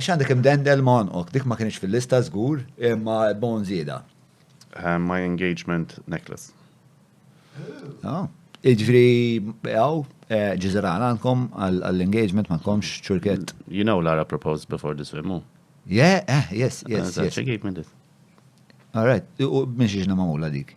X'għandek imdendel ma' għonqok? Dik ma kinitx fil-lista żgur, imma bone żieda. My engagement necklace. Oh. Iġri, għaw, eh, ġizera għandkom għall-engagement ma komx ċurket. You know Lara proposed before this film, mu? Yeah, eh, yes, yes. She gave me this. All right, u minn xiex namamula dik?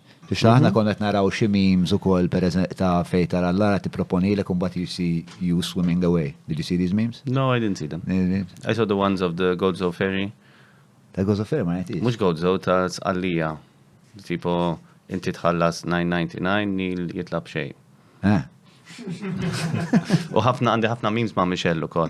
Biex aħna konna qed naraw xi memes ukoll per ta' fejn tara l-ara tipproponilek u mbagħad you see you swimming away. Did you see these memes? No, I didn't see them. I saw the ones of the Gozo ferry. Ta' Gozo ferry ma jgħidx. Mhux Gozo ta' Sqallija. Tipo inti tħallas 999 nil jitlab xejn. Eh. U ħafna għandi ħafna memes ma' Michelle ukoll.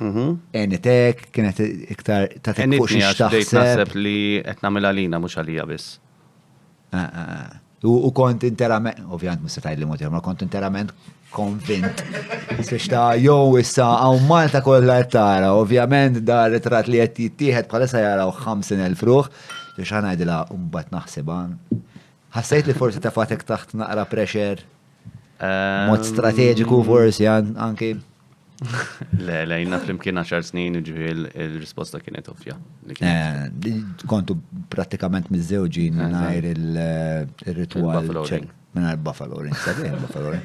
Mhm. Enitek, kienet iktar ta' Enitni tekkuxi għax bdejt xtaħseb. naħseb li qed nagħmel għalina mhux għalija biss. Ah, ah, ah. U u kont interament, ovvjament mista tajli mod ma kont interament konvint. Siex ta' jow issa għaw Malta kollha qed tara, ovvjament da ritrat li qed jittieħed bħalissa jaraw 50,000 ruħ, siex ħanajdilha mbagħad naħsibha. Ħassejt li forsi tafatek taħt naqra pressure, mod strateġiku forsi an- anki. Le, le, jina flimkien 10 snin ġivi il-risposta kienet ovvja. Eh, kontu pratikament mizzewġi minnajr il-ritual. Minnajr Buffalo Ring, sabi Buffalo Ring.